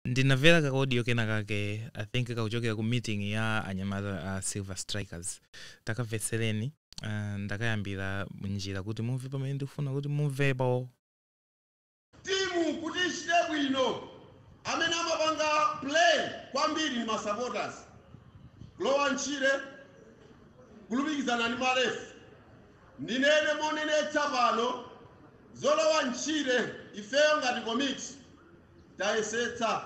ndinamvera ka audio kena kake i think kakuchokera ku meeting ya anyamata a silver strikers takamvetsereni uh, ndakayambira njira kuti mumve pamene ndikufuna kuti mumvepo timu kuti ichite bwino amene amapanga play kwambiri ndi masupporters kulowa ntchire kulumikizana ndi malefu ndinene monenetsa pano zolowa ntchire ifeyo ngati komiti tayesetsa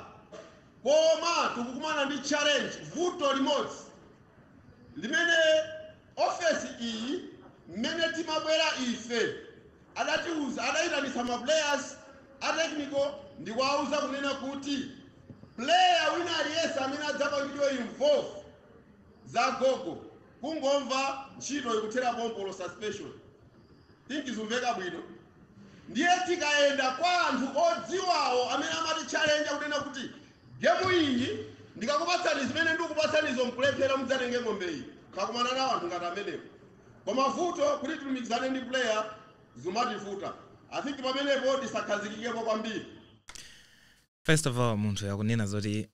koma tikukumana ndi challenge vuto limodzi limene ofesi iyi mmene timabwera ife adayitanitsa ma players a technical ndikuwauza kunena kuti player wina aliyense amene adzapangidwe involve za gogo kungomva ntchito ikuthera pompolo suspension think zumveka bwino ndiye tikayenda kwa anthu odziwawo amene amati challenge kunena kuti gemu iyi ndikakupatsani zimene ndikupatsanizo mkulephera mudzatenge ng'ombe iyi takumana nawo anthu ngati amenewo koma vuto kuti tilumikizane ndi player zimativuta i think pamenepo tisakhazikikepo kwambiri first of all munthu akunena zoti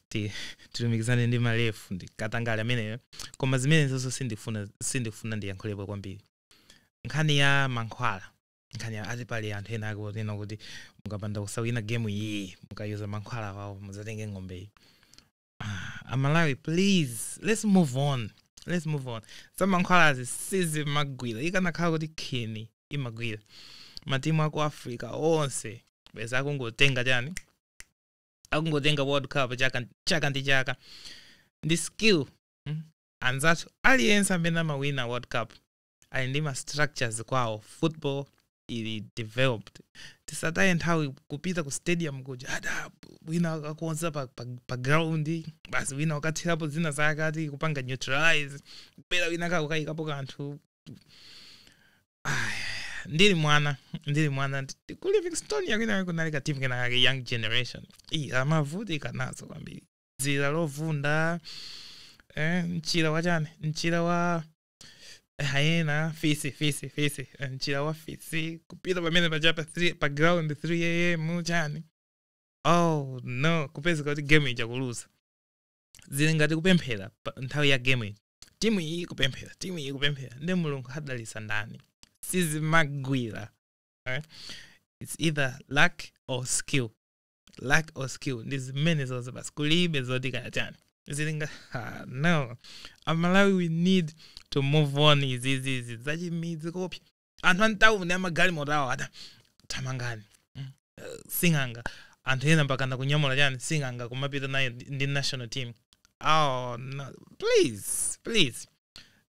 ti- tilumikizane ndi malefu ndi katangale ameneyo koma zimenezonso sindifuna sindifuna ndiyankhulepo kwambiri nkhani ya mankhwala nkhani ya ati pali anthu ena akunena kuti mukapanda kusawina gemu iyi mukayuza mankhwala wawo mudzatenge ng'ombeyi ah, amalawi please let's move on let's move on zamankhwalazi sizimagwira ikanakhala kuti khini imagwira matimu aku africa onse bwenzi akungotenga chani akungotenga world cup chaka, chaka ndi chaka ndi skill hmm? anzathu aliyense amene amawina world cup ali ndi ma structures kwawo football ili developed tisataye nthawi kupita ku stadium kuja ada wina akakonza pa, pa, pa ground basi wina akathirapo zina zakati kupanga neutralize bera wina akukayikapo kanthu Aya, ndili mwana ndili mwana ndi- ku livingstonia kwina kunali ka team kinakake young generation imavutika nazo kwambiri dzira lovunda eh, mchira wachani mchira wa hyena fisi fisi fisi eh, mchira wa fisi kupita pamene paja pa, three- pa ground 3 am chani oh no kupezeka kuti game ija kuluza zili ngati kupemphera nthawi ya game ija timu iyi kupemphera timu iyi kupemphera nde mulungu adalitsa ndani sizimagwira eh? its either luck or skill lack of skill ndi zimene zonse basi kulibe zoti kaya chani zizimba ah, no amalawi we need to move on izizizi zachimidzi kopya anthu antawuni amagalimoto awo ati thamangani mm, eh, sing'anga anthu ena mpakana kunyamula chani sing'anga kumapita naye ndi ndi national team oh no please please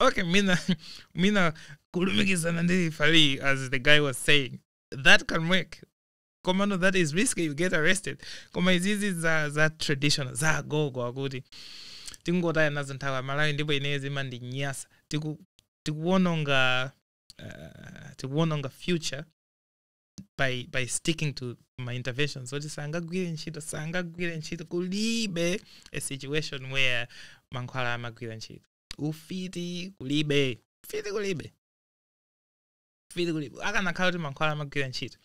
okay mina mina kulumikizana ndi referee as the guy was saying that can work komano that is risky you get arrested koma izizi za za traditional za agogo akuti tingotaya nazo nthawi amalawi ndipo ineyo zimandinyasa tiku tikuwononga uh, tikuwononga future by by sticking to ma interventions oti sangagwire ntchito sangagwire ntchito kulibe a situation where mankhwala amagwira ntchito ufiti kulibe ufiti kulibe ufiti kulibe akanakhala kuti mankhwala amagwira ntchito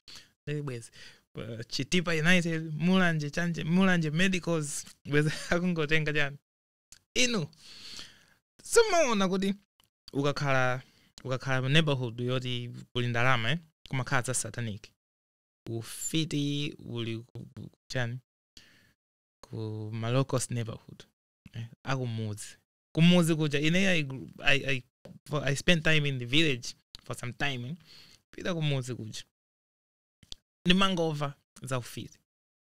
Ndili bwezi Pa chitipa united mulanje mulanje mulanje medicals bwezi akungotenga chani inu simumaona kuti ukakhala ukakhala mu neighborhood yoti kuli ndalama eh? kumakhala za satanic ufiti uli ku- ku- chani ku malocos neighborhood eh, akumudzi kumudzi kuja ine I, I, I, I spent time in the village for some time eh. pita kumudzi kuja ndimangomva za ufiti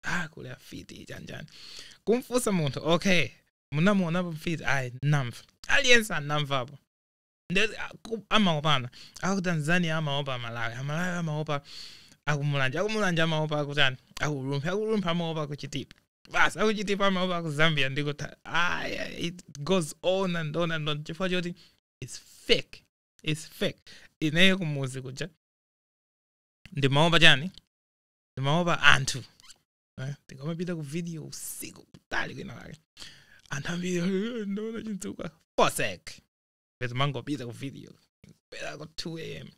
ah kuli afiti chanichani kumufunsa munthu okay munamuonapo mfiti ayi namva aliyense anamvapo Nde- aku- amaopana aku tanzania amaopa amalawi amalawi amaopa akumulanje akumulanje amaopa akutani akulumphi akulumphi amaopa akuchitipa basi akuchitipa amaopa akuzambia ndikuti aya it goes on and on and on chifukwa choti its fake its fake ineyo kumuzi kuja ndimaopa chani ndimaopa anthu Eh, ndikamapita ku video usiku kutali kwina kake anthu ambiri "Eh, ndaona chinthuka fosek ndezimangopita ku video kubwera ku 2 am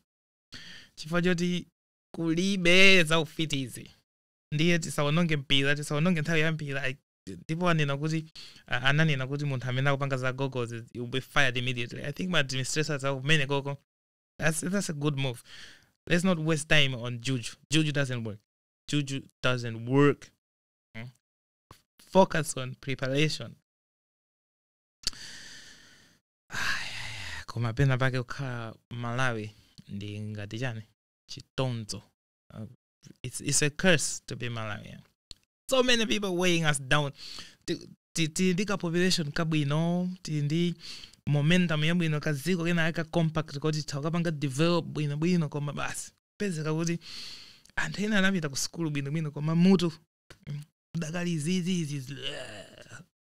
chifukwa choti kulibe za ufitizi ndiye tisaononge mpira tisaononge nthawi ya mpira I- ndipo anena kuti ah, ananena kuti munthu amene akupanga za gogozi will be fired immediately i think ma administrators akumeneko ko that's, that's a good move let's not waste time on juju juju doesn't work juju doesn't work Mm. focus on preparation koma pena pake kukhala mmalawi ndi ngati chani chitonzo Uh, it's, it's a curse to be malawian so many people weighing us down Ti- ti- tili ndi ka population kabwino tili ndi momentum yabwino kadziko kena aka compact kuti takapanga develop bwino bwino koma basi pezeka kuti anthu ena anapita ku sukulu bwino bwino koma mutu mm, udakali zizizi